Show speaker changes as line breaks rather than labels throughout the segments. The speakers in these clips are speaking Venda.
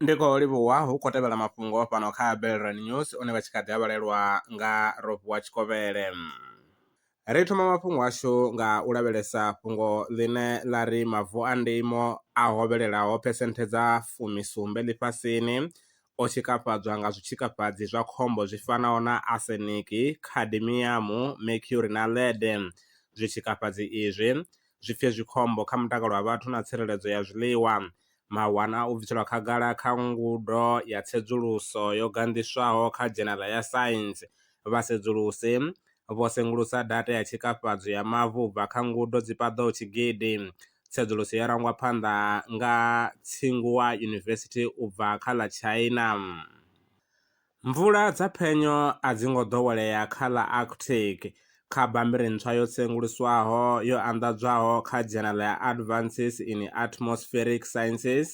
ndi khou livhuwa hu khou tevhela mafhungo fhano kha belran news one vha tshi kha ḓi a vhalelwa nga rofhiwa tshikovhele ri thoma mafhungo ashu nga u lavhelesa fhungo ḽine ḽa ri mavu a ndimo a hovhelelaho phesenthe dza fumisumbe ḽifhasini o tshikafhadzwa nga zwitshikafhadzi zwa khombo zwi fanaho na aseniki khadimiyamu mercury na lede zwitshikafhadzi izwi zwipfie zwi khombo kha mutakalo wa vhathu na tsireledzo ya zwiḽiwa. Mawanwa a u bviselwa khagala kha ngudo ya tsedzuluso yo ganḓiswaho kha Dzhenala ya Saintsi. Vhasedzulusi vho sengulusa data ya tshikafhadzo ya mavu u bva kha ngudo dzi paḓaho tshigidi. Tsedzuluso yo rangwa phanḓa nga Tsinghua University u bva kha ḽa China. Mvula dza phenyo a dzi ngo ḓowelea kha ḽa Arctic. Kha bammbiri ntswa yo tsenguluswaho yo anḓadzwaho kha dzhenala ya Advances in Atmospheric Sciences,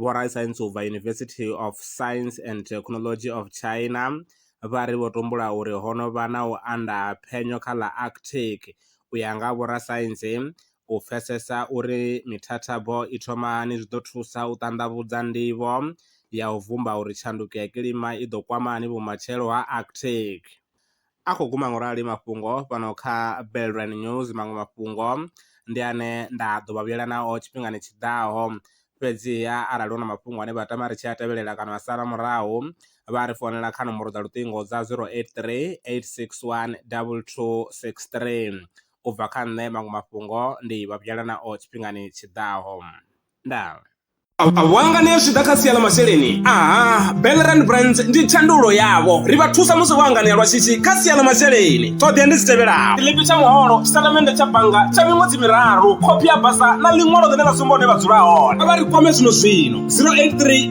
vhorasaintsi u bva University of Science and Technology of China vha ri vho tumbula uri ho no vha na u anda ha phenyo kha ḽa Arctic. U ya nga vhorasaintsi, U pfesesa uri mithathabo i thoma hani zwi ḓo thusa u ṱanḓavhudza nḓivho ya u vhumba uri tshanduko ya kilima i ḓo kwama hani vhumatshelo ha Arctic. A khou guma ngorali mafhungo fhano kha Belrand News, maṅwe mafhungo ndi ane nda ḓo vha vhuyela nao tshifhingani tshi ḓaho. Fhedziha arali hu na mafhungo ane vha tama ri tshi a tevhelela kana vha sala murahu, vha ri founela kha nomboro dza luṱingo dza 083 861 2263. u bva kha nṋe maṅwe mafhungo ndi vha vhuyela nao tshifhingani tshi ḓaho. Ndaa. Wanga
ni zwi ḓa kha sia ḽa masheleni aha Belrand Brands ndi thandululo yavho ri vha thusa musi vho anganea lwa shishi kha sia ḽa masheleni ṱhoḓea ndi dzi tevhelaho tshiḽipi tsha muholo tshitatamennde tsha bannga tsha miṅwedzi miraru khophi ya basa na ḽiṅwalo ḽine ḽa sumba hune vha dzula hone a vha ri kwame zwino zwino 083